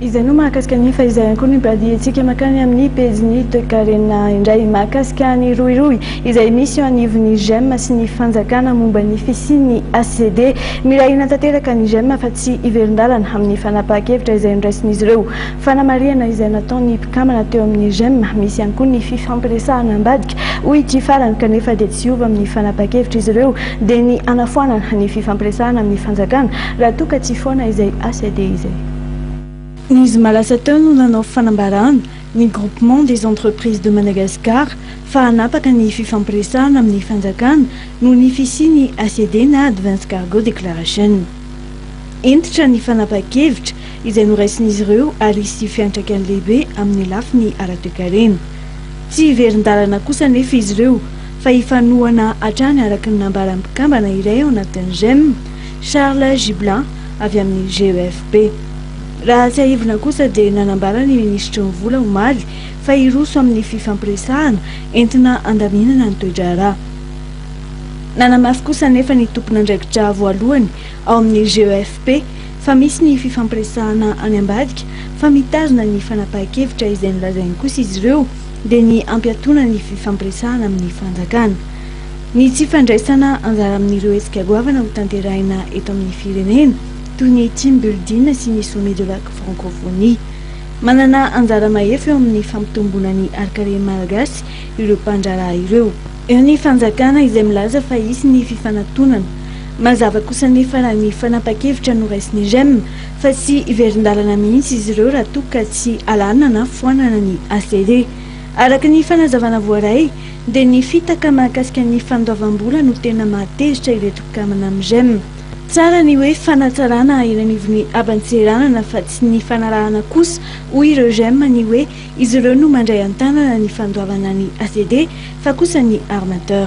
Izay no mahakasika ny fa izay ihany koa no imbadiantsika mankany amin'ny pejin'ny toekarena indray mahakasika ny rohirohy izay misy eo anivon'ny gem sy ny fanjakana momba ny fisian'ny HCD. Miray hina tanteraka ny gem fa tsy hiverin-dalana amin'ny fanapahan-kevitra izay noraisin'izy ireo. Fanamarihana izay nataon'ny mpikambana teo amin'ny gem, misy ihany koa ny fifampiresahana ambadika hoy ity farany kanefa dia tsy hiova amin'ny fanapahan-kevitr'izy ireo dia ny hanafoanana ny fifampiresahana amin'ny fanjakana raha toa ka tsy foana izay HCD izay. Ny zoma lasa teo no nanao fanambarana ny Groupement des Entreprises de Madagascar fa hanapaka ny fifampiresahana amin'ny fanjakana noho ny fisian'ny ACD na Advance Cargo Declaration. Hentitra ny fanapahan-kevitra izay noraisin'izy ireo ary hisy fiantraikany lehibe amin'ny lafiny ara-toekarena. Tsy hiverin-dalana kosa anefa izy ireo fa hifanohana hatrany araka ny nambaran'ny mpikambana iray ao anatin'ny Gem, Charles Gibelin, avy amin'ny GEFB. Raha tsiahivina kosa dia nanambara ny minisitry ny Vola omaly fa hiroso amin'ny fifampiresahana entina handaminana ny toe-draharaha. Nanamafy kosa anefa ny tompon'andraikitra voalohany ao amin'ny GEFB fa misy ny fifampiresahana any ambadika fa mitazona ny fanapahan-kevitra izay nolazainy kosa izy ireo dia ny hampiatoana ny fifampiresahana amin'ny fanjakana. Ny tsy fandraisana anjara amin'ireo hetsika goavana ho tanterahina eto amin'ny firenena, toy ny Team Building sy ny Sommet de la Francophonie. Manana anjara mahefa eo amin'ny fampitomboana ny harin-karena malagasy ireo mpandraharaha ireo. Eo ny fanjakana izay milaza fa hisy ny fifanatonana. Mazava kosa anefa raha ny fanapan-kevitra no raisin'ny Rem fa tsy hiverin-dalana mihitsy izy ireo raha toa ka tsy alàna na foanana ny ACD. Araka ny fanazavana voaray dia ny fitaka mahakasika ny fandoavam-bola no tena mahatezitra ireto mpikambana amin'ny rem. Tsara ny hoe fanatsarana eny anivon'ny haban-tseranana fa tsy ny fanarahana kosa hoy ireo rem ny hoe izy ireo no mandray an-tanana ny fandoavana ny ACD fa kosa ny armateur.